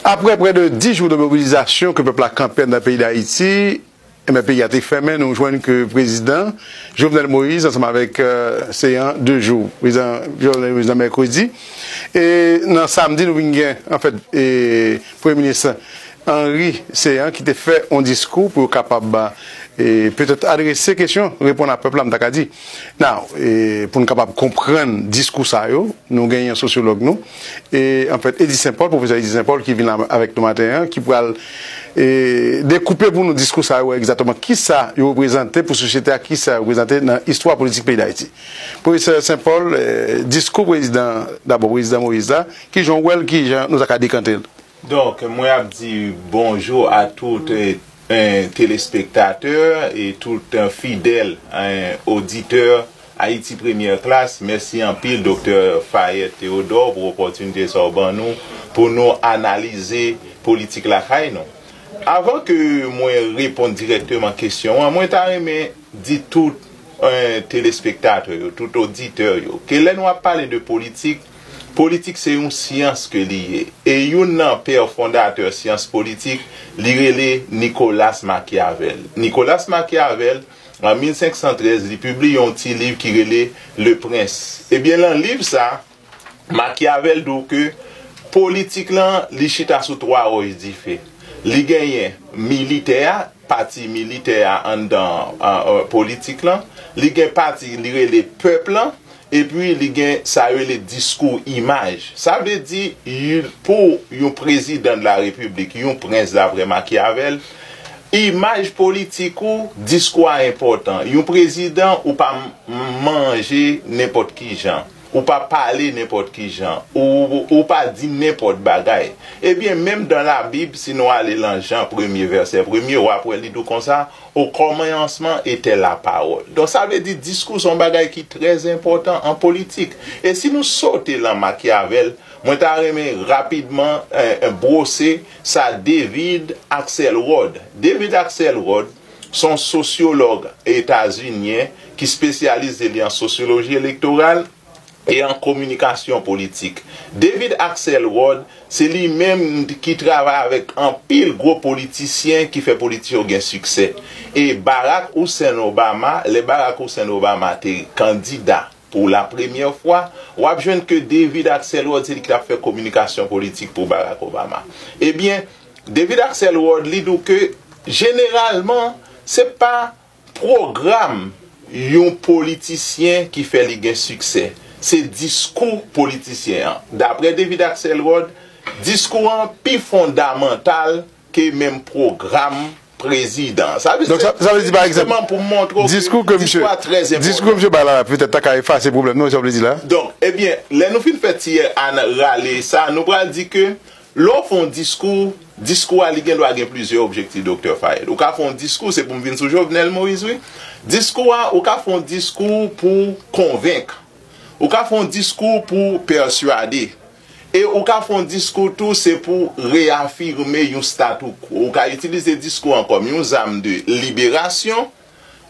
Aprè prè de 10 jou de mobilizasyon ke pèp la kanpe anndan peyi Dayiti, enben peyi a te fèmen, nou jwenn ke prezidan Jovenel Moïse ansanm avèk se an 2 jou, prezidan Jovenel Moïse nan mèkredi, e nan samdi nou vin gen anfèt e premye minis Henry Céant ki te fè yon diskou pou yo kapab e petèt adrese kesyon, reponn a pèp la m ta ka di. Now, pou n kapab konprann diskou sa yo, nou gen yon sosyològ nou, an fèt, Eddy St. Paul, pwofesè Eddy St. Paul ki vin la avèk nou maten an, ki pral dekoupe pou nou diskou sa yo egzatteman ki sa yo reprezante pou sosyete a, ki sa yo reprezante nan istwa politik peyi Dayiti. Pwofesè St. Paul, diskou prezidan, dabò prezidan Moïse la, ki jan w wè l, ki jan nou ta ka dekante l? Donk mwen ap di bonjou a tout telespektatè e tout fidèl oditè Ayiti Premyè Klas. Mèsi anpil Doktè Fayette Theodore pou opòtinite sa ou ban nou pou nou analize politik lakay nou. Avan ke mwen reponn dirèkteman kesyon an, mwen ta renmen di tout telespektatè yo, tout oditè yo ke lè nou ap pale de politik, Politik se yon syans ke li ye. E youn nan pè fondatè syans politik, li rele Nicolas Machiavel. Nicolas Machiavel, an 1513, li pibliye yon ti liv ki rele Le Prince. Ebyen lan liv sa, Machiavel di w ke politik lan, li chita sou twa wòch dife. Li genyen militè a, pati militè a anndan politik lan, li gen pati li rele pèp lan, epi li gen sa yo rele diskou imaj. Sa vle di, pou yon prezidan de la repiblik, yon prens daprè Machiavel, imaj politik ou, diskou a enpòtan. Yon prezidan ou pa manje nenpòt ki jan. Ou pa pale nenpòt ki jan. Ou, ou pa di nenpòt bagay. Ebyen, menm dan Labib, si nou ale lan Jan premye, vèsè premye, w ap wè li di w konsa, O kòmayansman etè lapawòl. Donk, sa vle di diskou se yon bagay ki trè enpòtan an politik. E si nou sote lan Machiavel, mwen ta renmen rapidman, eh, bwose sa David Axelrod. David Axelrod, Se yon sosyològ etazinyen ki spesyalize li an sosyoloji elektoral e an kominikasyon politik. David Axelrod, se li menm ki travay avèk anpil gwo politisyen ki fè politik yo gen siksè. E Barack Hussein Obama, lè Barack Hussein Obama te kandida pou la premyè fwa, w ap jwenn ke David Axelrod se li ki t ap fè kominikasyon politik pou Barack Obama. Ebyen, David Axelrod li dou ke jeneralman se pa pwogram yon politisyen ki fè li gen siksè, se diskou politisyen an. Daprè David Axelrod, diskou an pi fondamantal ke menm pwogram prezidan. Sa vle di se jisteman pou montre w ke diskou a trè enpòtan. Diskou misye bay la petèt ta ka efase pwoblèm nan, e sa w vle di la? Donk, ebyen, lè nou fin fè tiyè a nan rale sa, nou pral di ke lè w fè yon diskou, diskou a li gen dwa gen plizyè objektif Doktè Fayed. Ou ka fè yon diskou, se pou m vin sou Jovenel Moïse wi, diskou a, ou ka fè yon diskou pou konvenk, ou ka fè yon diskou pou pèsuade, E ou ka fè yon diskou tou se pou reyafime yon statu quo. Ou ka itilize diskou an kòm yon zam de liberasyon,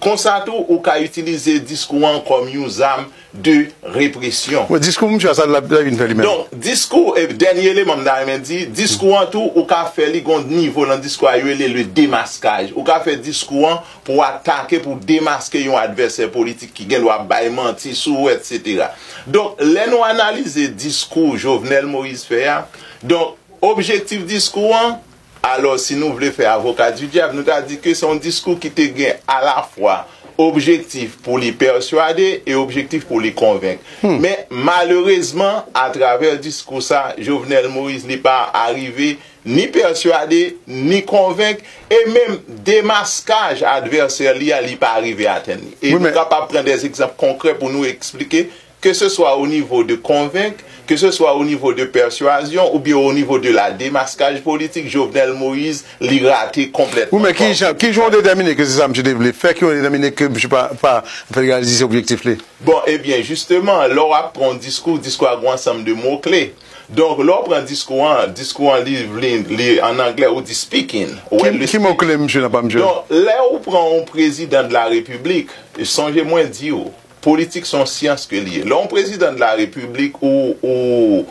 konsa tou ou ka itilize diskou an kòm yon zam de represyon. Bon, diskou misye a, sa l ap vin fè li menm? Donk, diskou, e dènye eleman m ta renmen di, diskou an tou ou ka fè li gen yon nivo nan diskou a yo rele le démasquage. Ou ka fè diskou an. pou atake, pou demaske yon advèsè politik ki gen dwa bay manti sou ou etc. Donk lè nou analize diskou Jovenel Moïse fè a, donk objektif diskou an, alò si nou vle fè avoka di dyab nou ta di ke se yon diskou ki te gen alafwa objektif pou li pèsuade e objektif pou li konvenk. Men malerezman atravè diskou sa Jovenel Moïse li pa arive ni pèswade, ni konvenk, e menm demaskaj advèsè li a, li pa arive atenn li. E nou kapab pran de egzanp konkrè pou nou esplike, ke se swa o nivo de konvenk, ke se swa o nivo de pèswazyon, ou byen o nivo de la demaskaj politik, Jovenel Moïse, li rate konplètman. Wi men ki jan, ki jan ou detèmine ke se sa misye te vle fè, ki jan ou detèmine ke misye pa, pa, an fèt reyalize objektif li? Bon, e byen, jisteman, lè w ap pran yon diskou, diskou a gen yon ansanm de mo kle. Donk lè w pran diskou an, diskou an li vle li an anglè ou di speaking. Ki mo kle msye nan pa msye? Donk lè ou pran yon prezidan de la repiblik, sonje mwen di w, politik se yon syans ke li ye. Lè yon prezidan de la repiblik ou ou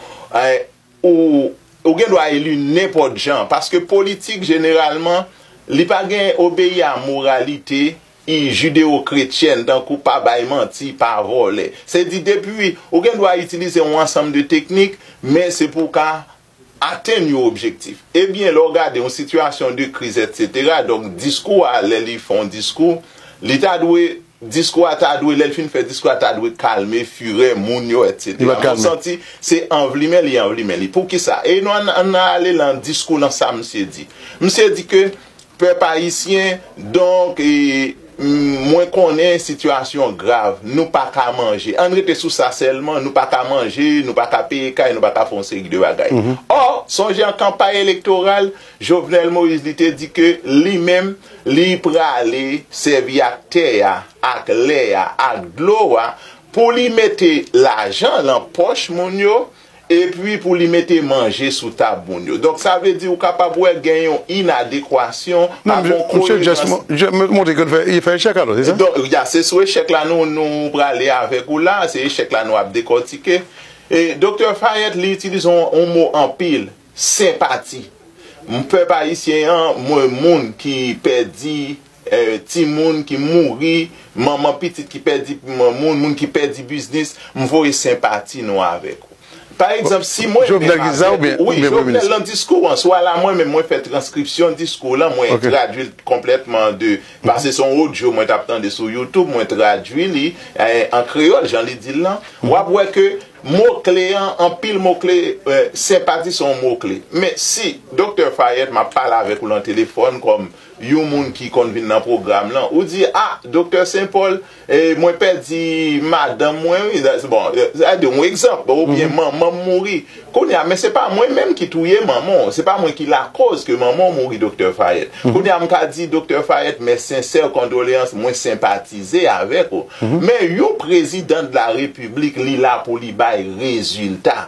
ou ou gen dwa eli nenpòt jan paske politik jeneralman li pa gen obeyi a moralite I. Jideo-kretyèn, tankou pa bay manti, pa vòlè. Se di depi ou gen dwa itilize yon ansanm de teknik, men se pou w ka atenn yon objektif. E byen lè w gade yon sitiyasyon de kriz etsetera, donk diskou a lè li fè yon diskou, li ta dwe, diskou a ta dwe, lè l fin fè diskou a ta dwe kalme furè moun yo etsetera. Men w santi se anvlimen li anvlimen li. Poukisa? E nou ann ale lan diskou lan sa misye di. Misye di ke Pèp Ayisyen, donk, mwen konnen sitiyasyon an grav, nou pa ka manje. Ann rete sou sa sèlman, nou pa ka manje, nou pa ka peye kay, nou pa ka fè yon seri de bagay. Ò, sonje an kanpay elektoral, Jovenel Moïse li te di ke li menm, li prale sèvi ak tè a, ak lè a, ak dlo a, pou li mete lajan lan pòch moun yo, Epi pou li mete manje sou tab moun yo. Donk sa vle di ou kapab wè gen yon inadekwasyon, pa gen koyerans. Non, misye montre ke li fè echèk alò, se sa? Donk, ya, se sou echèk la nou prale avèk ou la, se echèk la nou ap dekòtike. E Doktè Fayette li itilize yon mo anpil, senpati. Pèp ayisyen an, mwen moun ki pèdi timoun ki mouri, manman pitit ki pèdi moun, moun ki pèdi biznis, m voye senpati nou avèk ou. Pa egzanp, si mwen menm avèk ou, wi, Jovenel nan diskou an, swa la mwen menm mwen fè transkripsyon diskou lan, mwen tradui l konplètman an de, pase son odyo mwen t ap tande sou youtube, mwen tradui li an kreyòl jan li di l lan, w ap wè ke mo kle an, anpil mo kle, senpati se yon mo kle. Men si, Doktè Fayèt, m ap pale avèk ou lan telefòn kòm. Yon moun ki konn vin nan pwogram lan, ou di, ah Doktè Sen Pòl, mwen pèdi madanm mwen wi, bon, sa di yon egzanp, oubyen manman m mouri. Kounye a, men se pa mwen menm ki touye manman w, se pa mwen ki lakoz ke manman w mouri Doktè Fayèt. Kounye a m ka di Doktè Fayèt mes sincères condoléances, mwen senpatize avèk ou. Men yon prezidan de la repiblik li la pou li bay rezilta.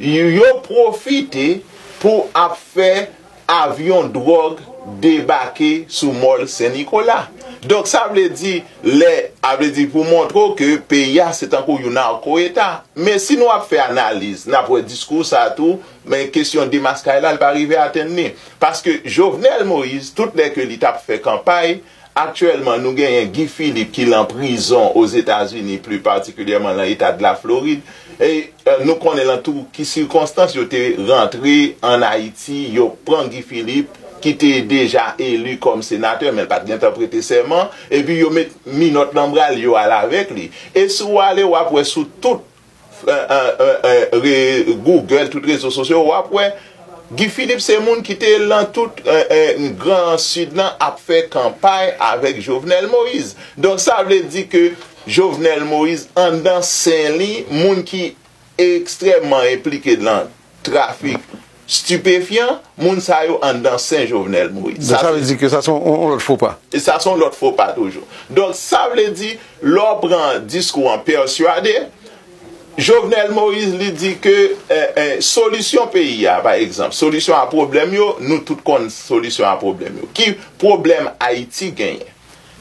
Yo pwofite pou ap fè avyon dwòg debake sou mòl Sen Nikola. Donk sa vle di lè a vle di pou montre w ke peyi a se tankou yon narco eta. Men si nou ap fè analiz n ap wè diskou sa tou men kesyon demaskay la l pa rive atenn li. Paske Jovenel Moïse tout lè ke li t ap fè kanpay, Aktyèlman nou genyen Guy Philippe ki lan prizon Ozetazini pli patikilyèman lan Etad la Florid e nou konnen lan tou ki sikonstans yo te rantre an Ayiti yo pran Guy Philippe ki te deja eli kòm senatè menl pat gentan prete sèman epi yo met minòt lan bral yo al avèk li e si w ale wap wè sou tout re Google tout rezo sosyo wap wè Guy Philippe se moun ki te lan tout gran sud lan ap fè kanpay avèk Jovenel Moïse donk sa vle di ke Jovenel Moïse andan sen li moun ki ekstrèman enplike lan trafik stipefyan, moun sa yo anndan sen Jovenel Moïse. Donk sa vle di ke sa se yon lòt fo pa. Sa se yon lòt fo pa toujou. Donk sa vle di, lè w pran diskou an pèsuade, Jovenel Moïse li di ke solisyon peyi a, pa egzanp, solisyon a pwoblèm yo, nou tout konn solisyon a pwoblèm yo. Ki pwoblèm Ayiti genyen?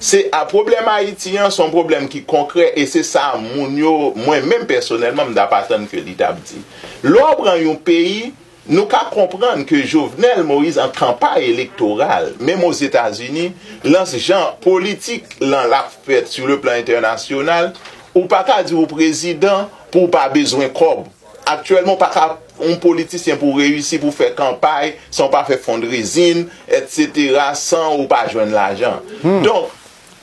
Se a pwoblèm Ayiti an, son pwoblèm ki konkrè e se sa moun yo, mwen menm pèsonèlman m tap atann ke li tap di. Lè w pran yon peyi, nou ka konprann ke Jovenel Moïse an kanpay elektoral, menm o Zetazini, lan s jan politik lan lap fèt sou le plan entènasyonal, ou pa ka di ou prezidan pou w pa bezwen kòb. Aktyèlman ou pa ka yon politisyen pou reyisi pou fè kanpay san ou pa fè fondrezin etc san ou pa jwenn lajan donk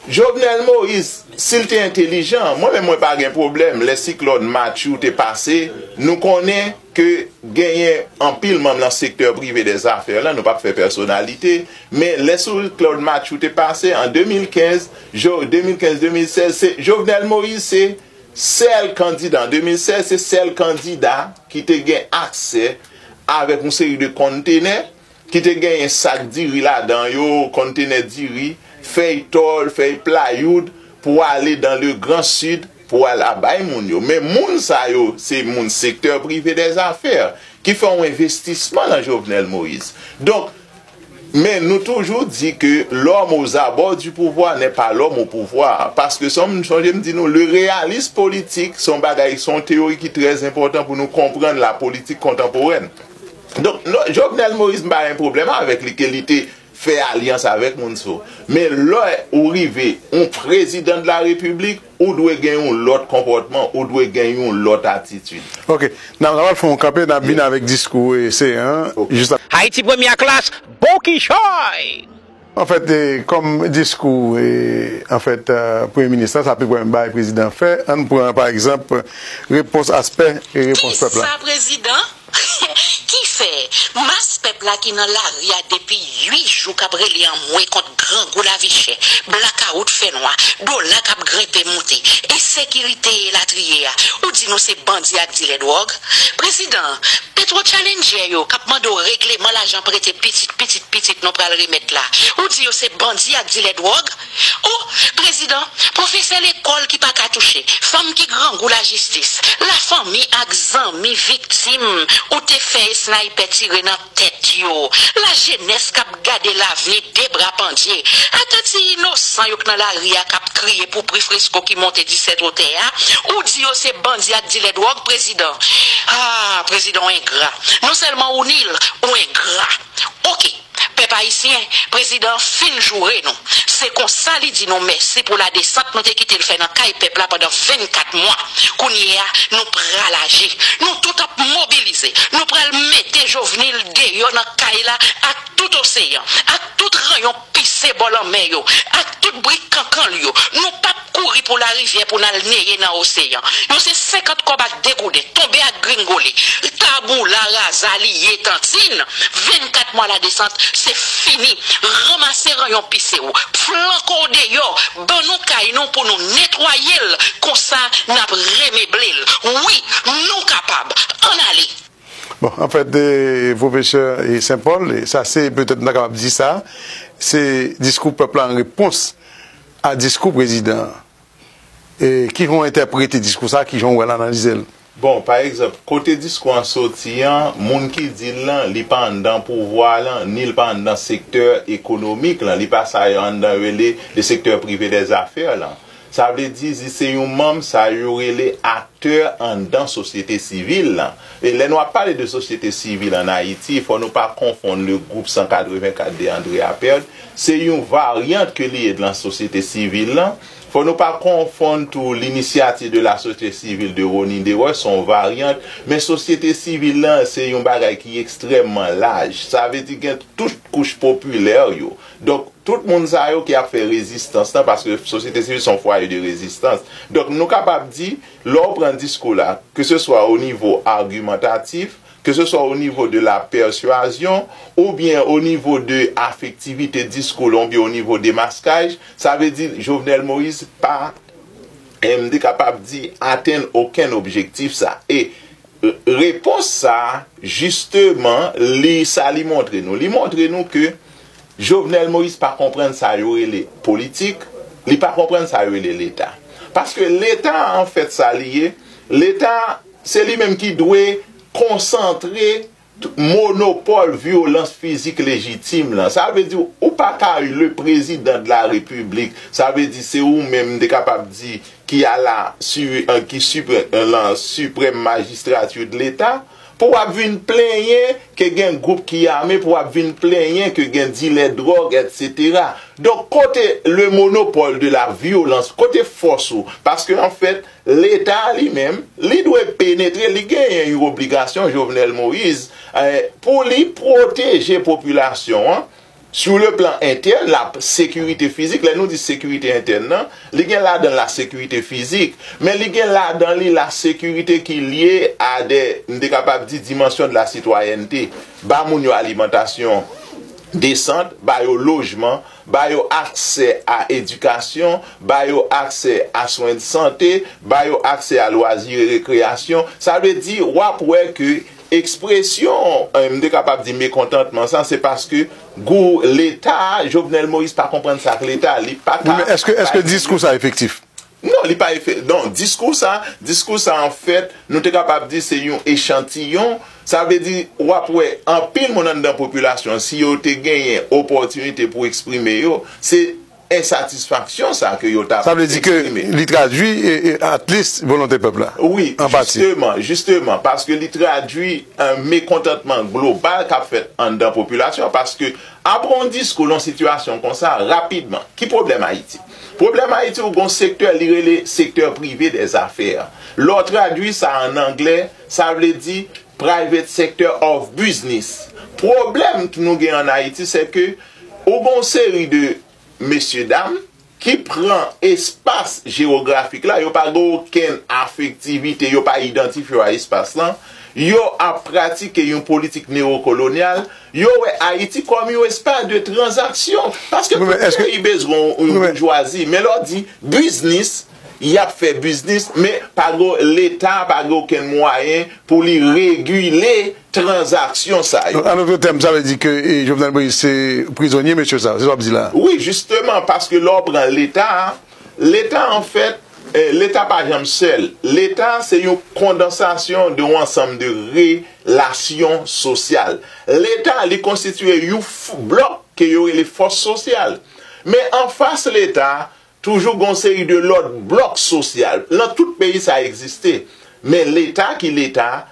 Jovenel Moïse si l te entelijan mwen menm mwen pa gen pwoblèm lè siklòn Matthew te pase nou konnen ke genyen anpil manm lan sektè prive dè zafè lan nou pap fè pèsonalite men lè siklòn Matthew te pase an 2015 2015 2016 se Jovenel Moïse se Sèl kandida, an 2016, se sèl kandida ki te gen aksè avèk yon seri de konntenè ki te genyen sak diri ladan yo, konntenè diri, fèy tòl, fèy playoud, pou ale dan le gran sid pou al a bay moun yo. Men moun sa yo, se moun sektè prive dè zafè ki fè yon envestisman lan Jovenel Moïse. Donk. Men nou toujou di ke l'homme aux abords du pouvoir n'est pas l'homme au pouvoir, paske son m sonje m di nou le realisme politique son bagay son teyori ki trè enpòtan pou nou konprann la politik kontanporèn. Donk non Jovenel Moïse m pa gen pwoblèm avèk li ke li te fè alyans avèk moun so men lè ou rive yon prezidan de la repiblik, Ou dwe gen yon lòt konpòtman, ou dwe gen yon lòt atitid. Ok, n ap fè yon kanpe, n ap vin avèk diskou ese an jis apre. Haiti Première Classe, Bon kichòy! An fèt, kòm diskou an fèt Premye Minis la, sa pi pwen bay Prezidan fè, an n pran pa egzanp repons aspè repons pèp la. Kisa Prezidan Ki fè, mas pèp la ki nan lari a depi 8 jou k ap rele anmwe kont grangou lavichè, blakawout fènwa, dola k ap grenpe moute, ensekirite e latriye a, ou di nou se bandi ak dilè dwòg? Prezidan, petwotchalennjè yo k ap mande w regleman lajan prete pitit pitit pitit nou pral remèt la, ou di yo se bandi ak dilè dwòg? O, prezidan, pwofesè lekòl ki pa ka touche, fanm ki grangou lajistis, lafanmi ak zanmi viktim ou te fè esnaypè tire nan tèt yo, lajenès k ap gade lavni de bra pandye, ata ti inosan yo k nan lari a k ap kriye pou pri fresko ki monte disèt wotè a, ou di yo se bandi ak dilè dwòg, prezidan. A, prezidan, w engra. Nonsèlman ou nil, ou engra. Ok pèp ayisyen prezidan an fin joure nou se konsa li di nou mèsi pou la desant nou te kite l fè nan kay pèp la pandan 24 mwa kounye a nou pral aji nou tout ap mobilize nou pral mete jovnil deyò nan kay la ak tout oseyan ak tout rayon pise bò lanmè yo, ak tout brik kankan l yo. Nou pa p kouri pou larivyè pou n al neye nan oseyan. Yo se senkant kòb ak de gouden, tonbe ak gringole. Taboula raza li ye tantin. Vennkat mwa ladesant, se fini. Ranmase ranyon pise w. Flanke w deyò. Ban nou kay nou pou nou netwaye l. Konsa, n ap remeble l. Wi! Nou kapab! Ann ale! Bon, anfèt, pwofesè Sen Pòl, sa se, petèt m ta kapab di sa, se diskou pèp la an repons a diskou prezidan an. E ki jan w entèprete diskou sa a? Ki jan w wè l, analize l? Bon, pa egzanp, kote diskou an soti an, moun ki di l lan, li pa anndan pouvwa a lan, ni l pa anndan sektè ekonomik lan, li pa sa yo anndan yo rele le secteur privé des affaires lan. Sa vle di zi se yon manm sa yo rele aktè anndan sosyete sivil lan. E lè nou ap pale de sosyete sivil an Ayiti, fò nou pa konfonn le gwoup 184 de André Apert, se yon varyant ke li ye dlan sosyete sivil lan. Fò nou pa konfonn tou L'Initiative de la société civile de Rony Deroy, se yon varyant. Men sosyete sivil lan se yon bagay ki ekstrèmman laj. Sa vle di gen tout kouch popilè yo. Donk, tout moun sa yo ki ap fè rezistans lan, paske sosyete sivil se yon fwaye de rezistans. Donk, nou kapab di, lè w pran diskou la, ke se swa o nivo agimantatif, ke se swa o nivo de la pèsuazyon, ou byen o nivo de afektivite diskou lan, ou byen o nivo demaskaj, sa vle di, Jovenel Moïse pa, m te kapab di, atenn okenn objektif sa. E. Repons sa a, jisteman, li, sa li montre nou? Li montre nou ke Jovenel Moïse pa konprann sa yo rele politik, li pa konprann sa yo rele Leta. Paske Leta a anfèt sa li ye, Leta a, se li menm ki dwe konsantre monopòl vyolans fizik lejitim lan. Sa vle di ou pa ka le prezidan de la repiblik, sa vle di se ou menm m te kapab di ki a la su ki su lan siprèm majistrati de leta, pou w ap vin plenyen ke gen gwoup ki ame, pou w ap vin plenyen ke gen dilè dwòg etsetera. Donk kote le monopòl de la vyolans, kote fòs ou? Paske anfèt, Leta li menm, li dwe penetre, li genyen yon obligasyon, Jovenel Moïse, pou li pwoteje popilasyon an, sou le plan entèn, la sekirite fizik, lè nou di sekirite entèn nan, li gen ladan l la sekirite fizik, men li gen ladan li la sekirite ki lye a de, m te kapab di, dimansyon de la sitwayènte, ba moun yo alimantasyon desant, ba yo lojman. ba yo aksè a edikasyon, ba yo aksè a swen sante, ba yo aksè a lwazi e rekreyasyon. Sa vle di, w ap wè ke ekspresyon, m te kapab di mekontantman sa, se paske gou Leta, Jovenel Moïse pa konprann sa ak Leta, li pa ka bay li. Wi men, èske diskou sa efektif? Non, li pa efe, non, diskou sa, diskou sa an fèt, nou te kapab di se yon echantiyon, sa vle di w ap wè anpil moun anndan popilasyon an si yo te genyen opòtinite pou eksprime yo, se ensatisfaksyon sa ke yo t ap eksprime. Sa vle di ke li tradui atlis volonte pèp la, an pati. Wi, jisteman, jisteman, paske li tradui mekontantman global k ap fèt anndan popilasyon an, paske apre yon diskou lè yon sitiyasyon konsa, rapidman, ki pwoblèm Ayiti? Pwoblèm Ayiti ou gon sektè li rele secteur privé des affaires. Lè w tradui sa an anglè, sa vle di private sector of business. Pwoblèm k nou gen an Ayiti sè ke ou gon seri de mesye dam ki pran espas jewografik la, yo pa gen okenn afektivite, yo pa idantifye w a espas lan, yo ap pratike yon politik newokolonyal, Yo wè Ayiti kòm yon espas de tranzaksyon. Paske tout peyi bezwen yon boujwazi. Men lè w di biznis, y ap fè biznis, men pa gen leta pa gen okenn mwayen pou li regile tranzaksyon sa yo. An otre tèm, sa vle di ke Jovenel Moïse se prizonye mesye sa yo? Se sa w ap di la a? Wi jisteman, paske lè w pran leta, Leta an fèt, Leta pa janm sèl. Leta se yon kondansasyon de yon ansanm de re la syon sosyal. Leta li konstitiye yon blòk ke yo rele fòs sosyal. Men an fas Leta, toujou gen yon seri de lòt blòk sosyal. Lan tout peyi sa egziste. Men Leta ki Leta,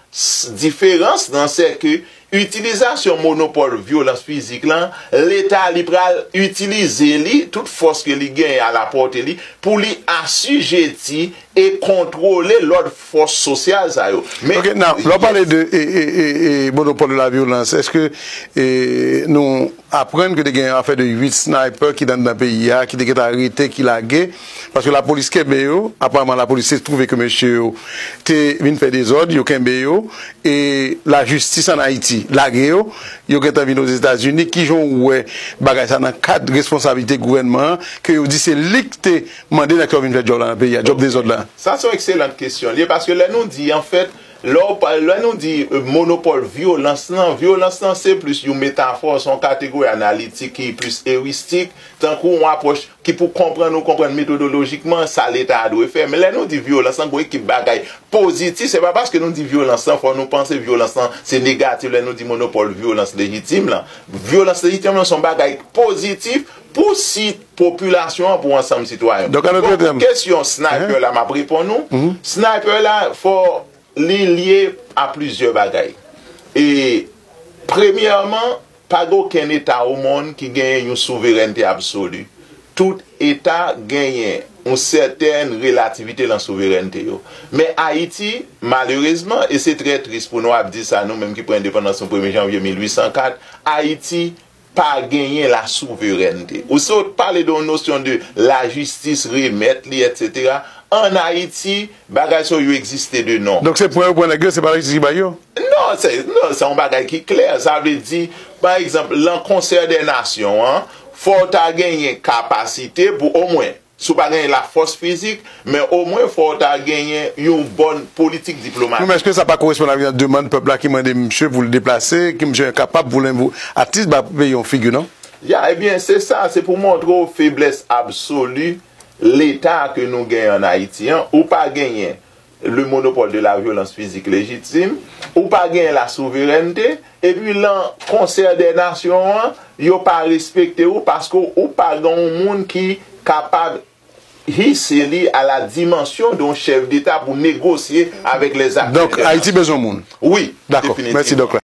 diferans lan se ke Itilizasyon monopòl vyolans fizik lan, Leta li pral itilize li, tout fòs ke li genyen a lapòte li, pou li asijeti e kontwole lòt fòs sosyal sa yo. Men, Ok, now, lè w pale de monopòl de la vyolans, eske nou. aprann ke te gen yon afè de 8 sniper ki t anndan peyi a ki te gentan rete ki lage paske lapolis kenbe yo aparman lapolis te twouve ke mesye yo te vin fè dezòd yo kenbe yo e lajistis an Ayiti lage yo yo gentan vin ozetazini kijan w wè bagay sa nan kad responsablite gouvènman an ke yo di se li k te mande nèg sa yo vin fè djòb la nan peyi a djòb dezòd la. Sa se yon ekselant kesyon l ye paske lè nou di anfèt Lè w pa, lè nou di monopòl vyolans lan, vyolans lan se plis yon metafò, se yon kategori analitik ki plis eristik, tankou yon apwòch ki pou konprann ou konprann metodolojikman sa leta a dwe fè. Men lè nou di vyolans lan, gon ekip bagay pozitif, se pa paske nou di vyolans lan fò nou panse vyolans lan se negatif lè nou di monopòl vyolans lejitim lan. Vyolans lejitim lan se yon bagay pozitif pou si. popilasyon an pou ansanm sitwayen. Bon pou kesyon sniper la map reponn ou, sniper la fò li lye a plizyè bagay. E premyèman pa gen okenn eta o monn ki genyen yon souverènte absoli. Tout eta genyen yon sètèn relativite lan souverènte yo. Men Ayiti malerezman e se trè tris pou nou ap di sa nou menm ki pran endepandans nou premye janvye 1804, Ayiti, Pa genyen la souverènte. Ou se ou t pale de yon nosyon de la jistis remèt li etc. An Ayiti bagay sa yo egziste de non. Donk se pran yo pran nèg yo se pa la jistis ki bay yo? Non, se yon bagay ki klè. Sa vle di pa egzanp lan konsè dè nasyon an fò w ta genyen kapasite pou omwen Si w pa genyen lafòs fizik, men omwen fò w ta genyen yon bòn politik diplomatik. Menm eske sa pa koresponn ak yon demand pèp la ki mande misye pou l deplase, ke misye enkapab pou l envo atis ba peyi yon figi non. Ya, ebyen se sa, se pou montre w feblès absoli leta ke nou genyen an Ayiti an, ou pa genyen le monopole de la violence physique légitime, ou pa genyen la souverènte, epi lan konsè dè nasyon an, yo pa respekte ou paske ou pa gen yon moun ki kapab hisse li a la dimension d'un chef d'Etat pou negosye avèk les acteurs internationaux. Donk Ayiti bezwen moun. Wi, definitivman.